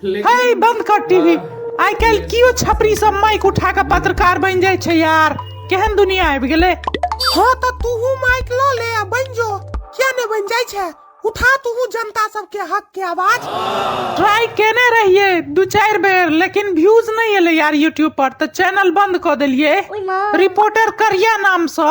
हे बंद कर टीवी आइ काल्हि कियो छपरी सब माइक उठा के पत्रकार बन जाय छै यार केहन दुनिया आबि गेले हां त तूहू माइक ल ले आ बन जो किया ने बन जाय छै उठा तूहू जनता सब के हक के आवाज ट्राई केने रहिए दू चार बेर लेकिन व्यूज नहीं एले यार यूट्यूब पर तो चैनल बंद कर दिलिए रिपोर्टर करिया नाम से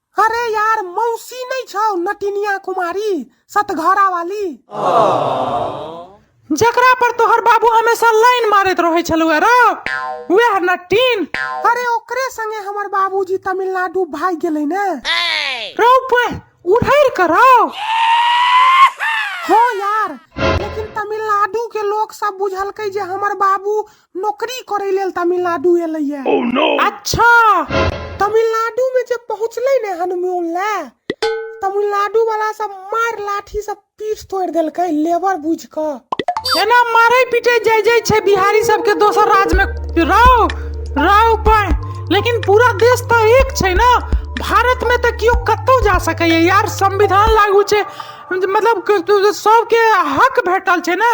अरे यार मौसी नहीं छौ नटिनिया कुमारी सतघरा वाली जकरा पर तोहर बाबू हमेशा लाइन मारैत रहै छलुए रौ वएह नटिन अरे ओकरे संगे हमर बाबूजी तमिलनाडु भाग गेलै ने रौ पे उधर करो हो यार लेकिन तमिलनाडु के लोग सब बुझलकै जे हमर बाबू नौकरी करे लेल तमिलनाडु एले ये oh, no. अच्छा तमिलनाडु में जब पहुंचले ने हनुमान ले तमिलनाडु वाला सब मार लाठी सब पीठ तोड़ दिल के लेबर बुझ के एना मारे पीटे जाय जाय छे बिहारी सब के दोसर राज में राव राव पाए लेकिन पूरा देश तो एक छे ना भारत में तो क्यों कतो जा सके यार संविधान लागू छे मतलब सबके हक भेटल छे ना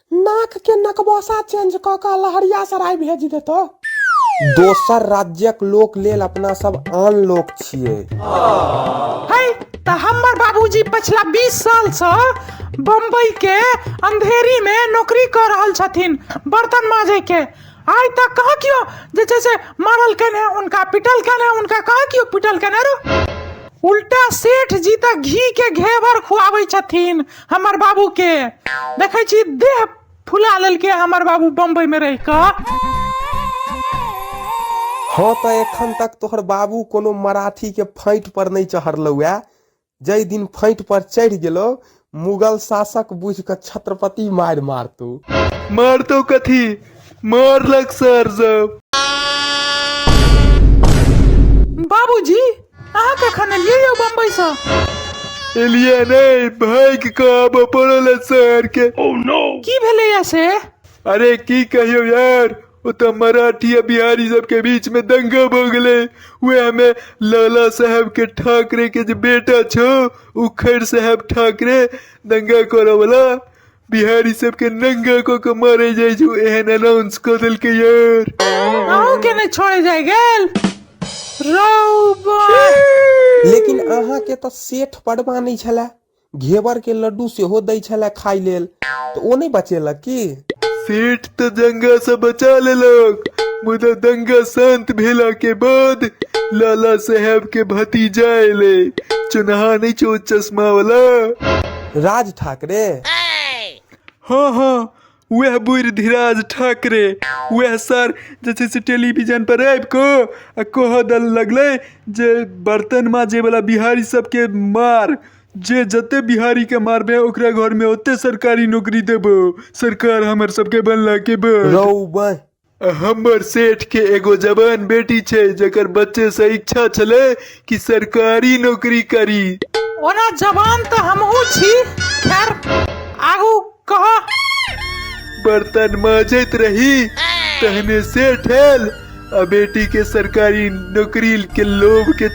नाक के नकबसा चेंज कऽ कऽ लहरिया सराय भेज देतो दोसर राज्यक लोक लेल अपना सब आन लोक छियै है तऽ हमर बाबूजी पछिला 20 साल से बम्बई के अंधेरी में नौकरी कर रहल छथिन बर्तन माजे के आइ तक कहाँ कियो जे छै से मारल केने उनका पिटल केने उनका कहाँ कियो पिटल केने रो उल्टा सेठ जी तऽ घी के घेवर खुआबै छथिन हमर बाबू के देखे छी देह फुला लेलके हमर बाबू बम्बई में रह के हँ तऽ एखन तक तोहर बाबू कोनो मराठी के फाँटि पर नहि चढ़लौ ए जाहि दिन फाँटि पर चढ़ि गेलौ मुगल शासक बुझि कऽ छत्रपति मारि मारतौ मारतौ कथी मारलक सर सब बाबूजी अहाँ कखन एलियै यौ बम्बईसँ एलिया नहीं भाग के आबऽ पड़ल है शहर के की भेलैए से अरे की कहियो यार ओ तऽ मराठी आ बिहारी सबके बीच में दंगा भऽ गेलै उएह में लाला साहब के ठाकरे के जे बेटा छौ उखड़ साहब ठाकरे दंगा करऽ वाला बिहारी सबके नंगा कऽ के मारे जाइ छौ एहन अनाउंस कऽ देलकै यार अहूँ के ने छोड़े जाय गेल रौ बा लेकिन अहाँके तऽ सेठ पड़बा नहि छलए घेवर के लड्डू सेहो दै छलए खाय लेल तऽ ओ नहि बचेलक की सेठ तऽ दंगा से बचा लेलक मुदा दंगा शांत भेला के बाद लाला साहब के भतीजा एले चुनहा नहि छौ चश्मा वाला राज ठाकरे हँ हँ वएह बुढ़ धीराज ठाकरे वएह सर जे छै से टेलीविजन पर आबि कऽ आ कहऽ दल लगलै जे बर्तन माजे वाला बिहारी सबके मार जे जते बिहारी के मारबे ओकरा घर में ओते सरकारी नौकरी देबो सरकार हमर सबके बनला के बाद रौ बह हमर सेठ के एगो जवान बेटी छै जकर बच्चे से इच्छा छले कि सरकारी नौकरी करी ओना जवान तऽ हमहूँ छी खैर आगू कह बर्तन माजैत रही तहने सेठ आयल आ बेटी के सरकारी नौकरी के लोभ के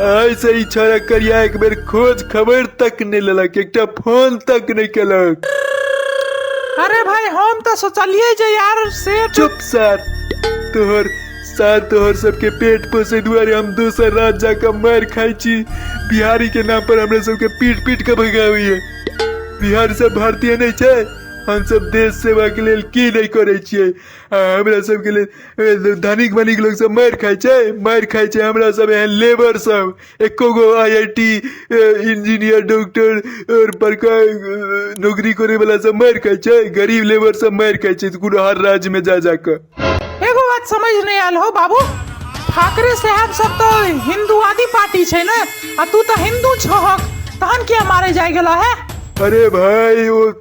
ऐसे ही छोरा करिया एक बेर खोज खबर तक नहीं लेलक एकटा फोन तक नहीं केलक अरे भाई हम तो सोचलिए जे यार से चुप सर तोहर सर तोहर सबके पेट पोसे दुआरे हम दोसर रात जाकर मार खाई छी बिहारी के नाम पर हमरा सबके पीट पीट के भगावी है बिहार सब भारतीय नहीं छै हम सब देश सेवा के लेल की नहीं करे छियै आ हमरा सबके लेल ए, धनिक मनिक लोग सब मारि खाइ छै मारि खाइ छै हमरा सब एहन लेबर सब एको गो I I T engineer doctor और बड़का अ, नौकरी करे वाला सब मारि खाइ छै गरीब लेबर सब मारि खाइ छै कोनो हर राज्य में जा जाकर एगो बात समझ नहीं आयल हो बाबू ठाकरे साहब सब तो हिंदूवादी पार्टी छै ने आ तू तो हिंदू छहक तहन किया मारे जाय गेला है अरे भाई वो